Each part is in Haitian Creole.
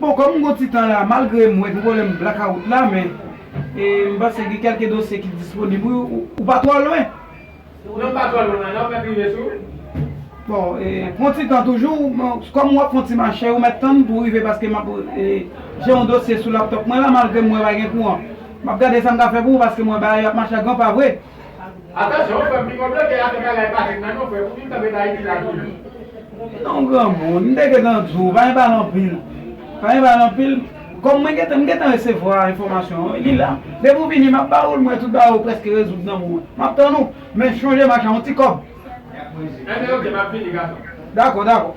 Bon kòm m gon ti tan la malgre m wè gen pwoblèm blakawout la men e m panse gen kèlke dosye ki disponib wi ou pa twò lwen? Non m pa twò lwen nan m mèt rive sou ou. Bon e pran ti tan toujou kòm w ap fè yon ti mache ou mèt tann pou w rive paske m ap e jè yon dosye sou laptòp mwen la malgre m wè pa gen kouran m ap gade sa m ka fè pou ou paske m wè bagay yo ap mache a gran pa vre. Atansyon frèm pi gwo blofè a fè bagay pa fèt nan non frè pou vin kanpe nan ayiti la toujou. Non granmoun, m te gentan di w, pa gen pale anpil. Pa gen pale anpil, kòm mwen gentan, m gentan resevwa enfòmasyon an, li la. Depi w vini m ap ba ou l, m wè tout bagay ou prèske rezoud nan men w. M ap tann ou, men chonje m acha yon ti kòb. Enben ok, m ap vini gason. Dakò, dakò.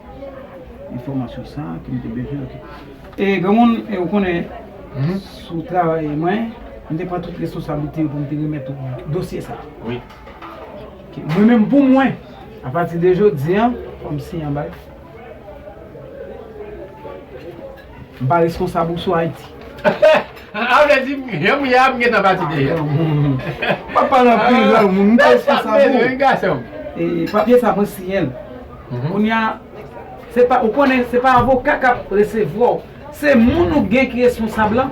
Enfòmasyon sa ke m te bezwen ok. E granmoun e ou konnen sou travay mwen m te pran tout responsablite pou m te remèt ou dosye sa. Wi. Ok mwen menm pou mwen apati de jodi an fò m siyen yon bagay. M pa responsab ou sou Ayiti. A vle di jan m ye a m gentan pati deja. M pa pale anpil granmoun, m pa responsab ou. Wi gason. E papye sa mwen siyen l. Kounye a, se pa, ou konnen se pa avoka k ap resevwa w. Se moun ou gen ki responsab lan.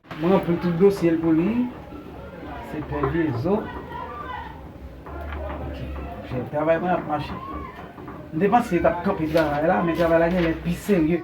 M ranpli tout dosye l pou li Se pè Jezo Ok Jèn travay mwen ap mache M te panse yo t ap kanpe travay la men travay la genlè pi serye.